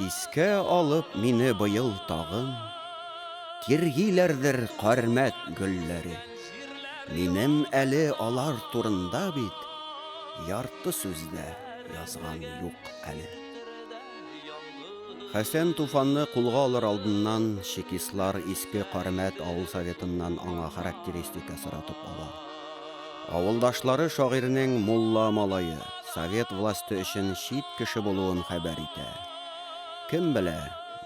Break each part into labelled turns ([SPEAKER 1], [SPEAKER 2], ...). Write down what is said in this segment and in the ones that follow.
[SPEAKER 1] Искә алып мине быел тагын, Тиргиләрдер кармәк гөлләре. Минем әле алар турында бит Ярты сүз дә язган юк әле. Хәсән Туфанны кулга алыр алдыннан чекистлар Иске Кармәт авыл Советыннан аңа характеристика соратып ала. Авылдашлары шагыйрьнең мулла малае, совет власте өчен чит кеше булуын хәбәр итә. Кем белә,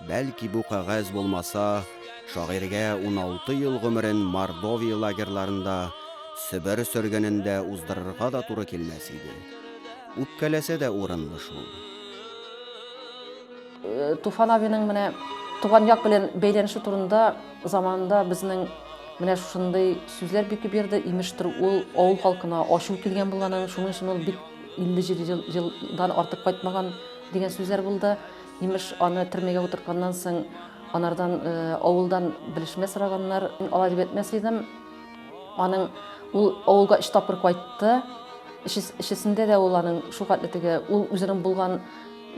[SPEAKER 1] бәлки бу кәгазь булмаса, шагыйрьгә уналты ел гомерен Мордовия лагерьларында, Себер сөргенендә уздырырга да туры килмәс иде. Үпкәләсә дә урынлы шул. Туфан абыйның менә туган як белән бәйләнеше турында Заманында безнең менә шушындый сүзләр бик күп йөрде, имештер ул авыл халкына ачу килгән булганын, шуның өчен ул бик 50 елдан артык кайтмаган дигән сүзләр булды. Имеш, аны төрмәгә утыртканнан соң анардан э, авылдан белешмә сораганнар. Мин алай дип әйтмәс идем. Аның ул авылга өч тапкыр кайтты. Эчесендә дә ул аның шул хәтле теге ул үзенең булган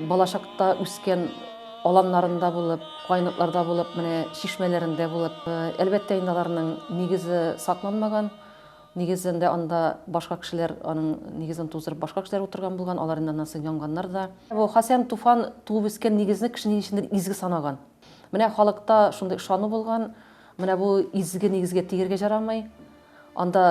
[SPEAKER 1] Балачакта үскән аланнарында булып, кайныкларда булып, менә чишмәләрендә булып, әлбәттә инде аларның нигезе сакланмаган. Нигезендә анда башка кешеләр аның нигезен туздырып, башка кешеләр утырган булган, алар инде аннан соң янганнар да. Бу Хасән Туфан туып үскән нигезне кеше ни өчендер изге санаган. Менә халыкта шундый ышану булган, менә бу изге нигезгә тигергә җарамый. Анда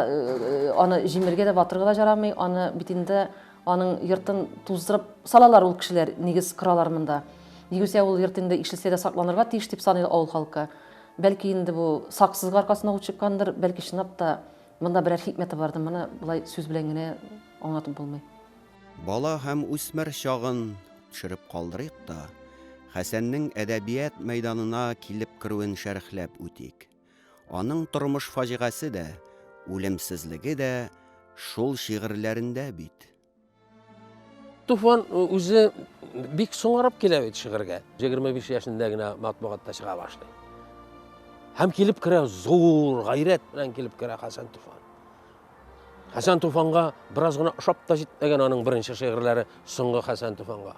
[SPEAKER 1] аны җимергә дә, ватырга да жарамый, аны бит инде аның йортын туздырып салалар ул кешеләр, нигез коралар монда. Югыйсә ул йорт инде ишелсә дә сакланырга тиеш дип саный авыл халкы. Бәлки инде бу саксызга аркасына ут чыккандыр, бәлки чынлап та монда берәр хикмәте бардыр, моны болай сүз белән генә аңлатып булмый. Бала һәм үсмер чагын төшереп калдырыйк та, Хәсәннең әдәбият мәйданына килеп керүен шәрехләп үтик. Аның тормыш фаҗигасе дә, үлемсезлеге дә шул шигырьләрендә бит. Туфан үзе бик соңарып килә бит шигырьгә. 25 яшендә генә матбугатта чыга башлый. Һәм килеп керә, зур гайрәт белән килеп керә Хәсән Туфан. Хәсән Туфанга бераз гына ошап та җитмәгән аның беренче шигырьләре соңгы Хәсән Туфанга.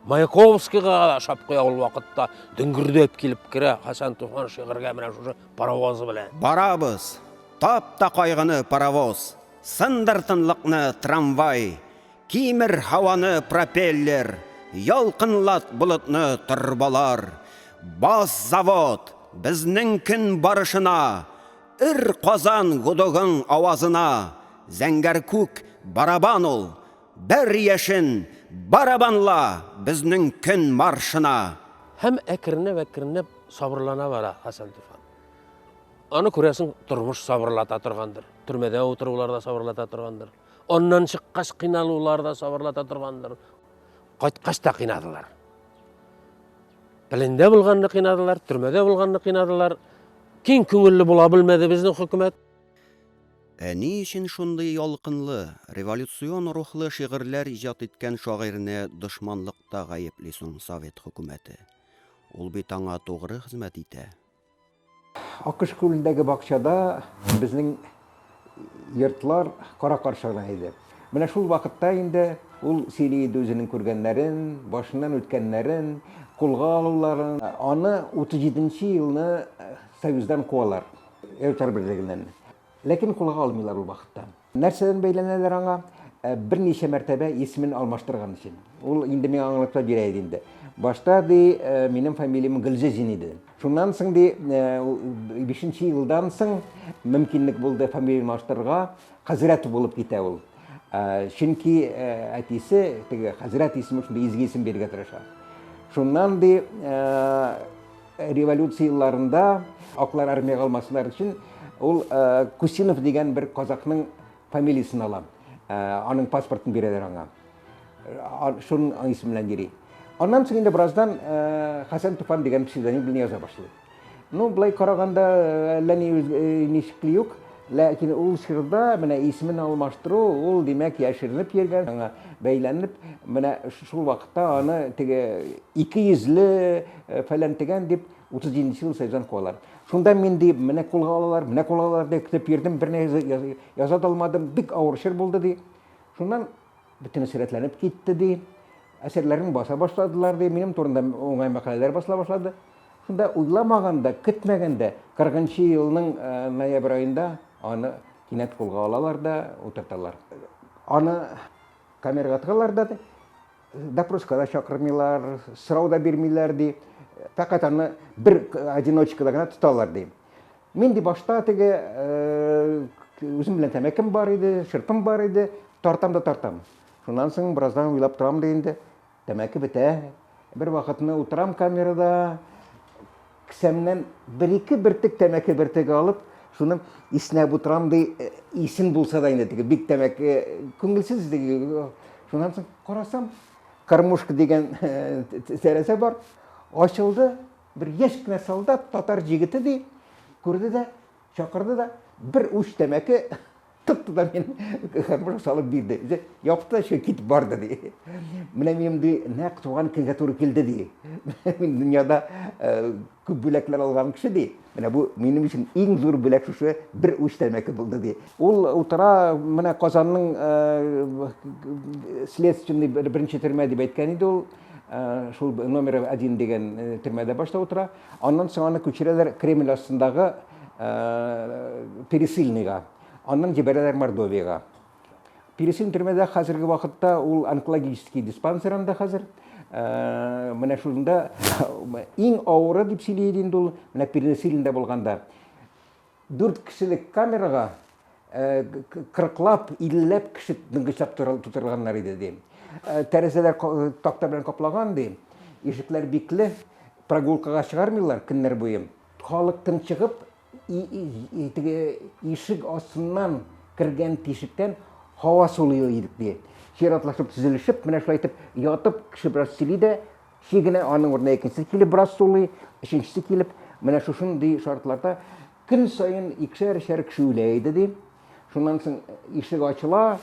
[SPEAKER 1] Маяковскийга да ошап куя ул вакытта, дөңгердәп килеп керә Хәсән Туфан шигырьгә менә шушы паровозы белән. Барабыз, тап та кайгыны паровоз, сындыр тынлыкны трамвай, кимер һаваны пропеллер, ялкынлат болытны торбалар, бас завод, безнең көн барышына, өр Казан гудогың авазына, зәңгәр күк барабан ул, Бер яшен, барабанла, безнең көн маршына! Һәм әкренләп-әкренләп сабырлана бара Хәсән Туфан. Аны күрәсең, тормыш сабырлата торгандыр. Төрмәдә утырулар да сабырлата торгандыр. Аннан чыккач кыйналулар да сабырлата торгандыр. Кайткач та кыйнадылар. Пелендә булганны кыйнадылар, төрмәдә булганны кыйнадылар. Киң күңелле була белмәде безнең хөкүмәт. Ә ни өчен шундый ялкынлы, революцион рухлы шигырьләр иҗат иткән шагыйрьне дошманлыкта гаепли соң совет хөкүмәте? Ул бит аңа тугры хезмәт итә. Акыш күлендәге бакчада безнең йортлар кара-каршы гына иде. Менә шул вакытта инде ул сөйли иде үзенең күргәннәрен, башыннан үткәннәрен, кулга алуларын. Аны 37 нче елны Союздан куалар. Эльтар берлегеннән. Ләкин кулга алмыйлар ул вакытта. Нәрсәдән бәйләнәләр аңа? Ә, берничә мәртәбә исемен алмаштырган өчен. Ул инде миңа аңлатма бирә иде инде. Башта, ди, ә, минем фамилиям Гөлзезин иде. Шуннан соң, ди, ә, у- бишенче елдан соң мөмкинлек булды фамилияне алмаштырырга. Хәзрәт булып китә ул. Ә, чөнки, ә, әтисе теге хәзрәт исеме шундый изге исем бирергә тырыша. Шуннан, ди, ә, Революция елларында аклар армиягә алмасыннар өчен ул Кусинов дигән бер казакның фамилиясен ала. Аның паспортын бирәләр аңа. Шуның исеме белән йөри. Аннан соң инде бераздан Хәсән Туфан дигән псевдоним белән яза башлый. Ну, былай караганда әллә ни ничекли юк. Ләкин ул чорда менә исемен алмаштыру, ул, димәк, яшеренеп йөргән, аңа бәйләнеп, менә шул вакытта аны теге ике йөзле фәлән-тегән дип, 37 нче ел сәүдәдән куалар. Шунда мин, ди, менә кулга алалар, менә кулга алалар дип көтеп йөрдем, берни яза да алмадым, бик авыр чор булды, ди. Шуннан бөтенесе рәтләнеп китте, ди. Әсәрләрен баса башладылар, ди. Минем турында уңай мәкаләләр басыла башлады. Шунда уйламаганда, көтмәгәндә, 40 нчы елның ноябрь аенда аны кинәт кулга алалар да утырталар. Аны камерага тыгалар да, допроска да чакырмыйлар, сорау да бирмиләр, ди. Фәкать аны бер одиночкада гына тоталар, ди. Мин ди башта теге үзем белән тәмәкем бар иде, шырпым бар иде, тартам да тартам. Шуннан соң бераздан уйлап торам да инде, Тәмәке бетә. Бервакытны утырам камерада, кесәмнән бер-ике бөртек тәмәке бөртеге алып, шуны иснәп утырам, ди, э, исем булса да инде, теге бик тәмәке, күңелсез диге. Шуннан соң карасам, кормушка дигән э, тәрәзә бар. Ачылды, бер яшь кенә солдат, татар җигете ди, күрде дә, Чакырды да, бер уч тәмәке тотты да мин карбыш салып бирде. Үзе япты, шул китеп барды ди. Менә минем ди, нәкъ туган көнгә туры килде ди. Мин дөньяда күп бүләкләр алган кеше ди. Менә бу минем өчен иң зур бүләк шушы бер уч тәмәке булды ди. Ул утыра, менә Казанның следственный беренче төрмә дип әйткән иде ул. Шул номер 1 дигән төрмәдә башта утыра. Аннан соң аны күчерәләр Кремль астындагы Пересыльныйга, аннан җибәрәләр Мордовиягә. Пересыльный төрмәдә хәзерге вакытта ул онкологический диспансер анда хәзер. Менә шунда иң авыры дип сөйли иде инде ул, менә Пересыльныйда булганда. Дүрт кешелек камерага кырыклап, илләп кеше ныгычак тутырганнар иде, ди. Тәрәзәләр такта белән каплаган, ди. Ишекләр бикле, прогулкага чыгармыйлар көннәр буе. Халык тынчыгып, теге ишек астыннан кергән тишектән һава сулый идек, ди. Чиратлашып, тезелешеп, менә шулай итеп ятып, кеше бераз сөйли дә, Чи генә аның урынына икенчесе килеп бераз сулый, өченчесе килеп, менә шушындый шартларда көн саен икешәр-өчәр кеше үлә иде, ди. Шуннан соң ишек ачыла,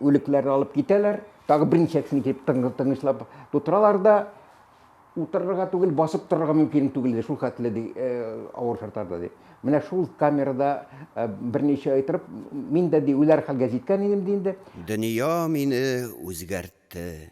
[SPEAKER 1] үлекләрне алып китәләр, тагы берничә кешене килеп тынычлап тутыралар да, утырырга түгел, басып торырга мөмкин түгел иде, шул хәтле ди, авыр шартларда ди. Менә шул камерада берничә ай торып, мин дә ди үләр хәлгә җиткән идем ди инде. Дөнья мине үзгәртте.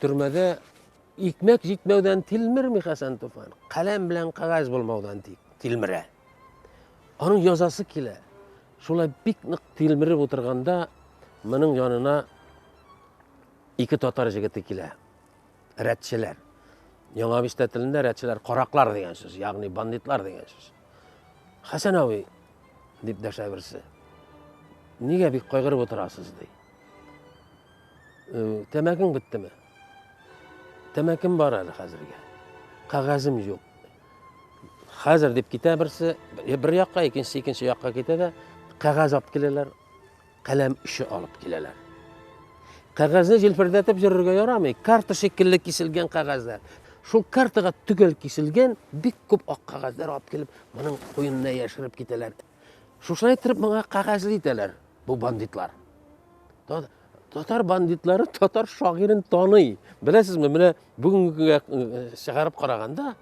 [SPEAKER 1] Төрмәдә икмәк җитмәүдән тилмерми Хәсән Туфан. Каләм белән кагаз булмаудан тилмерә. Аның язасы килә. Шулай бик нык тилмереп утырганда моның янына ике татар җегете килә. Рәтчеләр. Яңа бистә телендә рәтчеләр караклар дигән сүз, ягъни бандитлар дигән сүз. Хәсән абый дип дәшә берсе. Нигә бик кайгырып утырасыз ди. Тәмәкең беттеме? Тәмәкем бар әле хәзергә. Кәгазем юк. Хәзер дип китә берсе, бер якка, икенче икенче якка китә дә, кәгазь алып киләләр, каләм өче алып киләләр. Кәгазьне җилфердәтеп йөрергә ярамый, карта шикелле киселгән кәгазьләр. Шул картага төгәл киселгән бик күп ак кәгазьләр алып килеп, моның куенына яшереп китәләр. Шушылай иттереп моңа кагазлы итәләр бу бандитлар. Татар бандитлары татар шагыйрен таный. Беләсезме, менә бүгенге көнгә э, чыгарып караганда,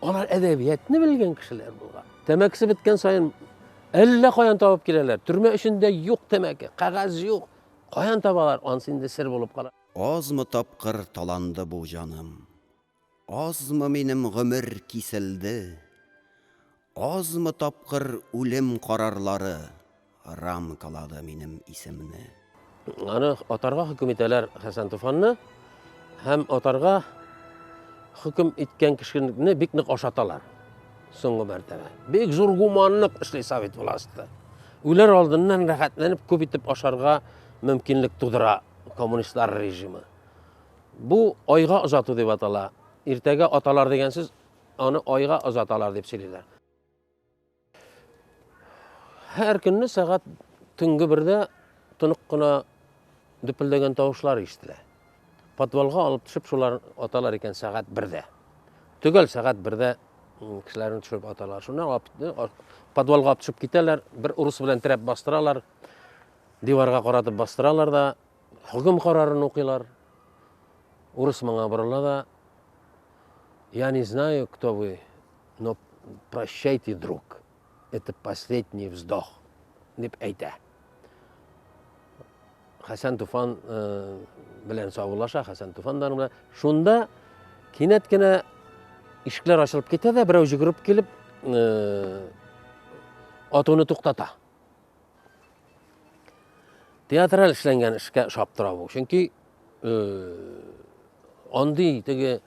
[SPEAKER 1] алар әдәбиятны белгән кешеләр булган. Тәмәкесе беткән саен әллә каян табып киләләр. Төрмә эчендә юк тәмәке, кагаз юк. Каян табалар, ансы инде сер булып кала. Азмы тапкыр таланды бу җаным. Азмы минем гомер киселде, Азмы тапкыр үлем карарлары Рамкалады минем исемне. Аны атарга хөкем итәләр Хәсән Туфанны һәм атарга хөкем иткән кешене бик нык ашаталар. Соңгы мәртәбә. Бик зур гуманлык эшли совет власты. Үләр алдыннан рәхәтләнеп күп итеп ашарга мөмкинлек тудыра коммунистлар режимы. Бу айга озату дип атала. Иртәгә аталар дигән сүз, аны айга озаталар дип сөйлиләр. Һәр көнне сәгать төнге бердә тонык кына дөпелдәгән тавышлар ишетелә. Подвалга алып төшеп шулар аталар икән сәгать бердә. Төгәл сәгать бердә кешеләрне төшереп аталар. Шуннан э, подвалга төшеп китәләр, бер урыс белән терәп бастыралар, диварга каратып бастыралар да, Хөкем карарын укыйлар. Урыс моңа борыла да, Я не знаю, кто вы, но прощайте, друг. Это последний вздох, дип әйтә. Хәсән Туфан э, белән саулаша, Хәсән Туфан да белән. Шунда кинәт кенә ишекләр ачылып китә дә, берәү җөгереп килеп, э, атуны туктата. Театраль эшләнгән эшкә ошап тора бу. Чөнки андый теге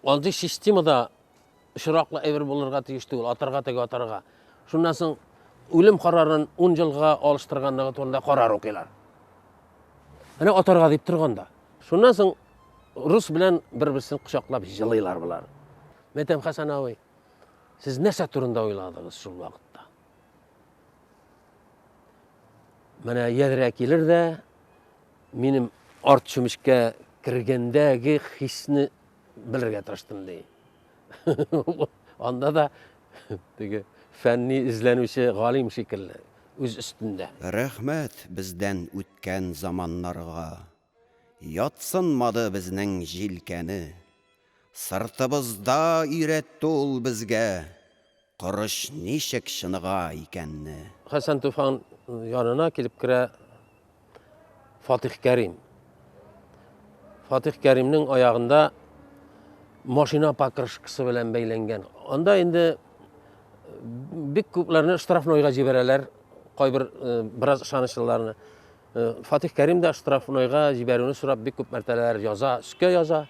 [SPEAKER 1] андый системада очраклы әйбер булырга тиеш түгел, атарга теге атарга. Шуннан соң үлем карарын 10 елга алыштырганлыгы турында карар укыйлар. Менә атарга дип торганда. Шуннан соң рус белән бер-берсен кочаклап җылыйлар болар. Мәтәм Хәсән абый, сез нәрсә турында уйладыгыз шул вакытта? Менә ядрә килер дә, минем арт чүмечкә кергәндәге хисне белергә тырыштым ди. Анда да теге фәнни эзләнүче галим шикелле, үз өстендә. Рәхмәт бездән үткән заманнарга. Ятсынмады безнең җилкәне. Сыртыбызда өйрәтте ул безгә Корыч ничек чыныга икәнне. Хәсән Туфан янына килеп керә Фатих Кәрим. Фатих Кәримнең аягында машина покрышкасы белән бәйләнгән. Анда инде бик күпләрне штрафнойга җибәрәләр, кайбер бераз ышанычлыларны. Фатих Кәрим дә штрафнойга җибәрүне сорап бик күп мәртәләр яза, өскә яза,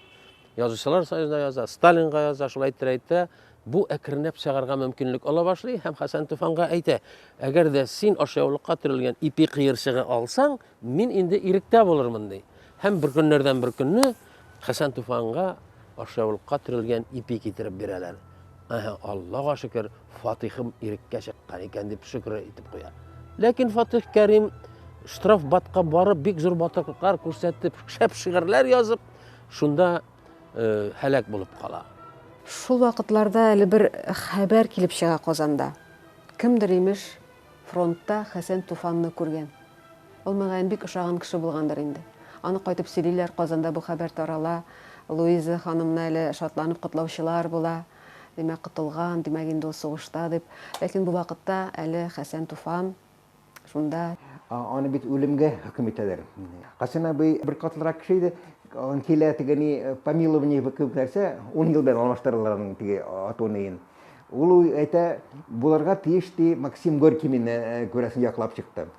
[SPEAKER 1] язучылар союзына яза, Сталинга яза, шулай әйттерә-әйттерә, бу әкренләп чыгарга мөмкинлек ала башлый һәм Хәсән Туфанга әйтә, әгәр дә син ашъяулыкка төрелгән ипи кыерчыгы алсаң, мин инде иректә булырмын, ди. Һәм бер көннәрдән бер көнне Хәсән Туфанга ашъяулыкка төрелгән ипи китереп бирәләр. Аһа, Аллага шөкер, Фатыйхым иреккә чыккан икән дип шөкер итеп куя. Ләкин Фатыйх Кәрим штраф батка барып, бик зур батырлыклар күрсәтеп, шәп шигырьләр язып, шунда э, һәлак булып кала. Шул вакытларда әле бер хәбәр килеп чыга Казанда. Кемдер имеш, Фронтта Хәсән Туфанны күргән. Ул, мөгаен, бик ошаган кеше булгандыр инде. Аны кайтып сөйлиләр, Казанда бу хәбәр тарала, Луиза ханымны әле шатланып котлаучылар була. Димәк, котылган, димәк, инде ул сугышта, дип. Ләкин бу вакытта әле Хәсән Туфан шунда. Аны бит үлемгә хөкем итәләр. Хәсән абый беркатлырак кеше иде. Килә теге ни, помилование кебек нәрсә, ун ел белән алмаштыралар аның теге ату-ниен. Ул әйтә, булырга тиеш, ди, Максим Горький мине, күрәсең, яклап чыкты.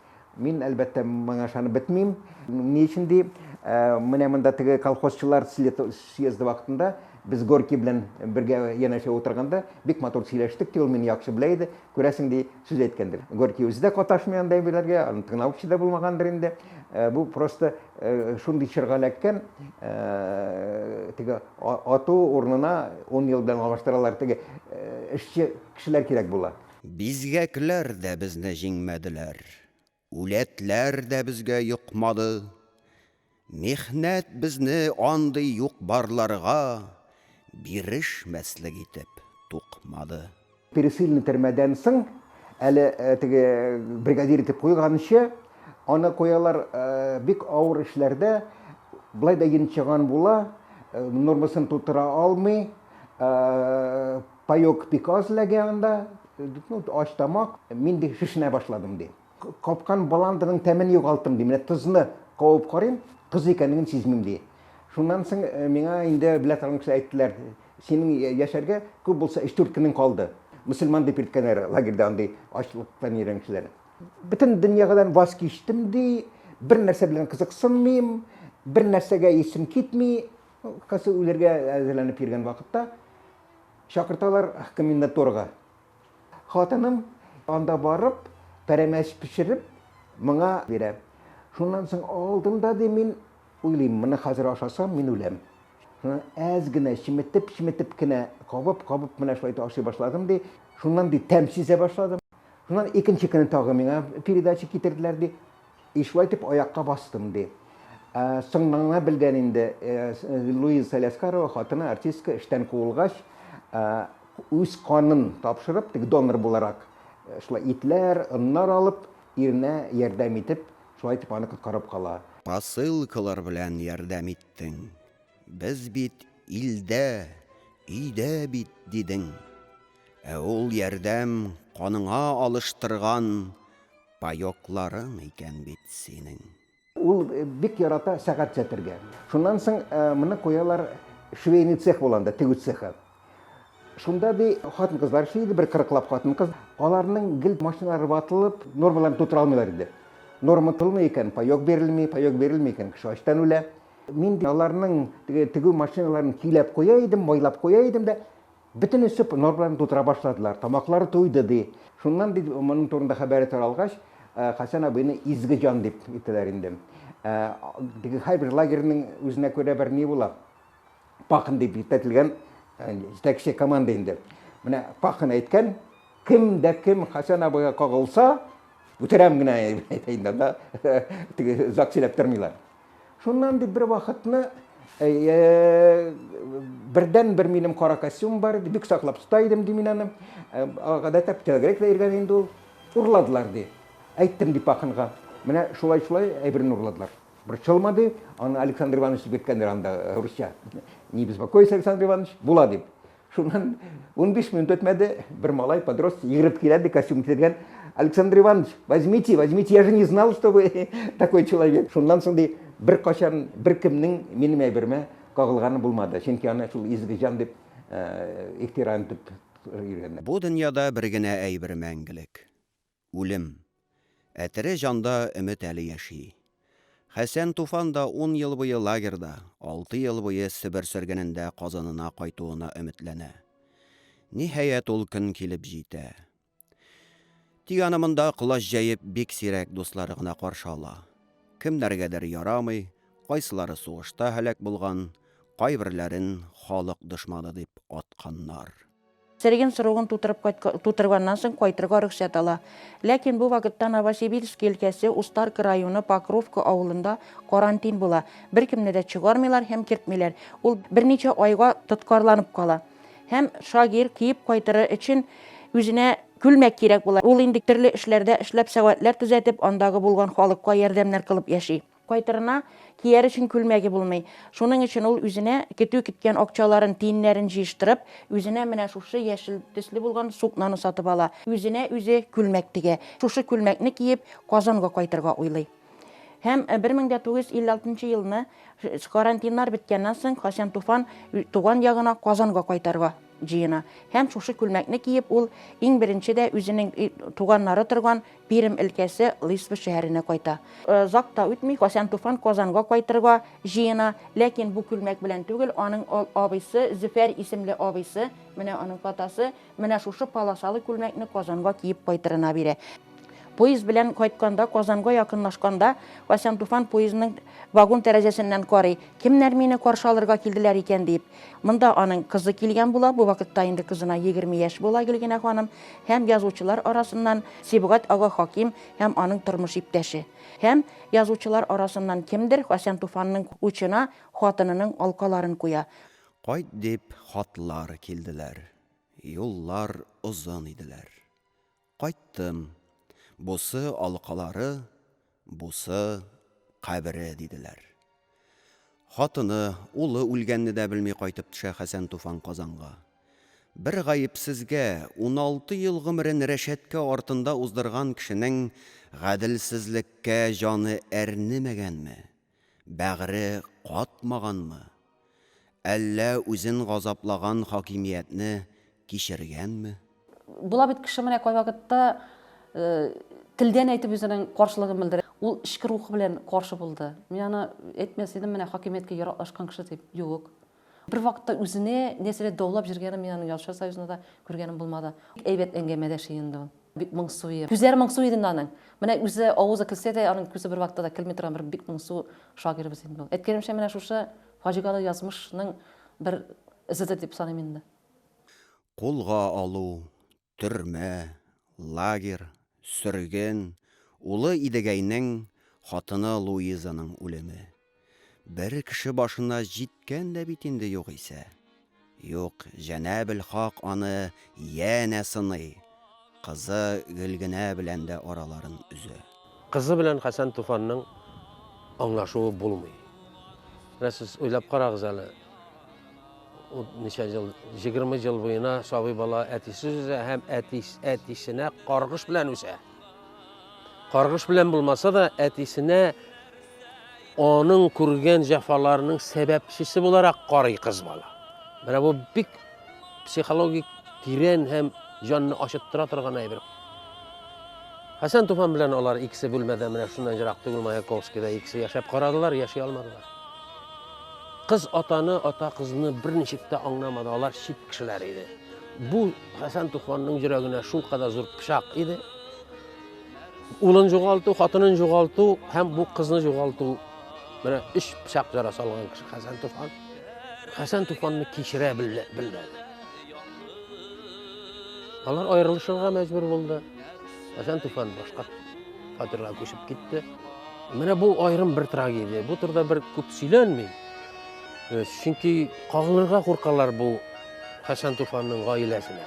[SPEAKER 1] Мин, әлбәттә, моңа ышанып бетмим. Ни өчен, ди, менә монда теге колхозчылар съезды вакытында без Горький белән бергә янәшә утырганда бик матур сөйләштек, ди, ул мине яхшы белә иде. Күрәсең, ди, Сүз әйткәндер. Горький үзе дә каташмый андый әйберләргә, аны тыңлаучы да булмагандыр инде. Э, бу просто э, шундый чорга эләккән, э, теге ату урынына 10 ел белән алыштыралар, теге эшче кешеләр кирәк була. Бизгәкләр дә безне җиңмәделәр. Үләтләр дә безгә йокмады. Михнәт безне андый юк-барларга бирешмәслек итеп тукмады. Пересыльный төрмәдән соң, әле теге бригадир итеп куйганчы, аны куялар бик авыр эшләрдә, болай да йончыган була, нормасын тутыра алмый, Паек бик аз эләгә анда, ну, ач тамак, мин ди шешенә башладым, ди. Капкан баландырның тәмен югалттым, ди, менә тозны кабып карыйм, тоз икәнлеген сизмим, ди. Шуннан соң миңа инде белә торган кеше әйттеләр, синең яшәргә күп булса өч-дүрт көнең калды. Мөселман дип йөрткәннәр лагерьда андый ачлыктан йөргән кешеләрне. Бөтен дөньядан ваз кичтем, ди, бернәрсә белән кызыксынмыйм, бернәрсәгә исем китми, касы үләргә әзерләнеп йөргән вакытта Чакырталар комендатурага. Хатыным анда барып, пәрәмәч пешереп, моңа бирә. Шуннан соң алдым да, ди, мин уйлыйм, моны хәзер ашасам, мин үләм. Әз генә, чеметеп-чеметеп кенә, кабып-кабып менә шулай итеп ашый башладым, ди. Шуннан, ди, тәм сизә башладым. Шуннан икенче көнне тагы миңа передача китерделәр, ди. И шулай итеп аякка бастым, ди. Соңыннан белгән инде, Луиза Саляскарова хатыны артистка эштән куылгач, үз канын тапшырып, теге донор буларак, шулай итләр, оннар алып, иренә ярдәм итеп, шулай итеп аны коткарып кала. Посылкалар белән ярдәм иттең. Без бит илдә, өйдә бит, дидең. Ә ул ярдәм каныңа алыштырган Паёкларың икән бит синең. Ул бик ярата сәгать сәтергә. Шуннан соң моны куялар швейный цех була анда, тегү цехы. Шунда, ди, хатын-кызлар эшли иде, бер кырыклап хатын-кыз. Аларның гел машиналары ватылып, нормаларын тутыра алмыйлар иде. Норма тулмый икән, паёк бирелми, паёк бирелми икән, кеше ачтан үлә. Мин, ди, аларның теге тегү машиналарын көйләп куя идем, майлап куя идем дә, Бөтен эче нор белән тутыра башладылар, тамаклары туйды, ди. Шуннан бит моның турында хәбәре таралгач, Хәсән абыйны изге җан дип әйтәләр инде. Теге һәрбер лагерьның үзенә күрә бер ни була. Пахн дип җитәтелгән җитәкче команда инде. Менә Пахн әйткән, кем дә кем Хәсән абыйга кагылса, үтерәм генә әйтә инде, анда теге озак сөйләп тормыйлар. Шуннан дип бер вакытны бердән бер минем кара костюм бар иде, бик саклап тота идем ди мин аны. Гадәттә телгрәк тә йөргән инде ул. Урладылар ди. Әйттем дип Пахынга. Менә шулай-шулай әйберне урладылар. Борчылма ди, аны Александр Иванович дип әйткәннәр анда русча. Не беспокойся, Александр Иванович, була дип. Шуннан унбиш минут үтмәде, бер малай подросток йөгереп килә, ди, костюм кигән. Александр Иванович, возьмите, возьмите, я же не знал, что вы такой человек. Шуннан соң ди, беркайчан беркемнең минем әйбермә кагылганы булмады, чөнки аны шул изге җан дип ихтирам итеп йөргәннәр. Бу дөньяда бер генә әйбер мәңгелек. үлем. Ә тере җанда өмет әле яши. Хәсән Туфан да ун ел буе лагерьда, алты ел буе Себер сөргенендә казанына кайтуына өметләнә. Ниһаять, ул көн килеп җитә. Тик аны монда колач җәеп бик сирәк дуслары гына каршы ала. Кемнәргәдер ярамый, кайсылары сугышта һәлак булган, кайберләрен халык дошманы дип атканнар. Сергин срогын тутырып кайткан, тутырганнан соң кайтырга рөхсәт ала. Ләкин бу вакытта Новосибирск өлкәсе Устарка районы Покровка авылында карантин була. Беркемне дә чыгармыйлар һәм кертмиләр. Ул берничә айга тоткарланып кала. Һәм Шагир киеп кайтыры өчен үзенә күлмәк кирәк була. Ул инде төрле эшләрдә эшләп, сәгатьләр төзәтеп, андагы булган халыкка ярдәмнәр кылып яши. Кайтырына кияр өчен күлмәге булмый. Шуның өчен ул үзенә көтү киткән акчаларын, тиеннәрен җыештырып, үзенә менә шушы яшел төсле булган сукнаны сатып ала. Үзенә үзе күлмәк тегә. Шушы күлмәкне киеп, Казанга кайтырга уйлый. Һәм 1956 елны, карантиннар беткәннән соң, Хәсән Туфан туган ягына, Казанга кайтырга җыена. Һәм шушы күлмәкне киеп, ул иң беренче дә үзенең туганнары торган Пермь өлкәсе Лисма шәһәренә кайта. Озак та үтми, Хасән Туфан Казанга кайтырга җыена, ләкин бу күлмәк белән түгел, аның абыйсы, Зөфәр исемле абыйсы, менә аның фотосы, менә шушы полосалы күлмәкне Казанга киеп кайтырына бирә. Поезд белән кайтканда, Казанга якынлашканда, Хасән Туфан поездның вагон тәрәзәсеннән карый, кемнәр мине каршы алырга килделәр икән диеп. Монда аның кызы килгән була, бу вакытта инде кызына 20 яшь була Гөлгенә ханым, һәм язучылар арасыннан Сибгать ага Хаким һәм аның тормыш иптәше. Һәм язучылар арасыннан кемдер Хәсән Туфанның учына хатынының алкаларын куя. Кайт дип хатлар килделәр. Юллар озын иделәр. Кайттым. Бусы, алкалары, бусы, кабере, диделәр. Хатыны, улы үлгәнне дә белми кайтып төшә Хәсән Туфан Казанга. Бер гаепсезгә, уналты ел гомерен рәшәткә артында уздырган кешенең гаделсезлеккә җаны әрнемәгәнме? Бәгъре катмаганмы? Әллә үзен газаплаган хакимиятне кичергәнме? Була бит кеше менә кайвакытта телдән әйтеп үзенең каршылыгын белдерә. Ул эчке рухы белән каршы булды. Мин аны әйтмәс идем менә хакимияткә яраклашкан кеше дип. Юк. Бер вакытта үзенә нәрсәдер даулап җөргәнен мин аның Ялчылар союзында да күргәнем булмады. Бик әйбәт әңгәмәдәш инде ул. Бик моңсу иде. Күзләре моңсу иде инде аның. Менә үзе авызы көлсә дә, аның күзе бер вакытта да көлми торган бер бик моңсу шагыйребез инде ул. Әйткәнемчә, менә шушы фаҗигале язмышның бер эзедер дип саныйм инде. Кулга алу, Төрмә, лагерь, сөрген, улы Идегәйнең, хатыны Луизаның үлеме. Бер кеше башына җиткән дә бит инде югыйсә. Юк, Җәнәбел Хак аны янә сыный, кызы Гөлгенә белән дә араларын өзә. Кызы белән Хәсән Туфанның аңлашуы булмый. Менә сез уйлап карагыз әле, ничә ел, 20 ел буена сабый бала әтисез үсә һәм әтис, әтисенә каргыш белән үсә. Каргыш белән булмаса да, әтисенә Аның күргән җәфаларының сәбәпчесе буларак карый кыз бала. Менә бу бик психологик тирән һәм җанны ачыттыра торган әйбер. Хәсән Туфан белән алар икесе бүлмәдә менә шуннан ерак түгел Маяковскийда икесе яшәп карадылар, яши алмадылар. Кыз атаны, ата кызны берничек тә аңламады, алар чит кешеләр иде. Бу Хәсән Туфанның йөрәгенә шулкадәр зур пычак иде. Улын жоғалту, хатынын жоғалту һәм бу кызны жоғалту. Менә үш пышак жарасы алган кеше Хәсән Туфан. Хәсән Туфанны кичерә белмәде. Алар аерылышырга мәҗбүр булды. Хәсән Туфан башка фатирга күчеп китте. Менә бу аерым бер трагедия. Бу турыда бер күп сөйләнми. Чөнки кагылырга куркалар бу Хәсән Туфанның гаиләсенә.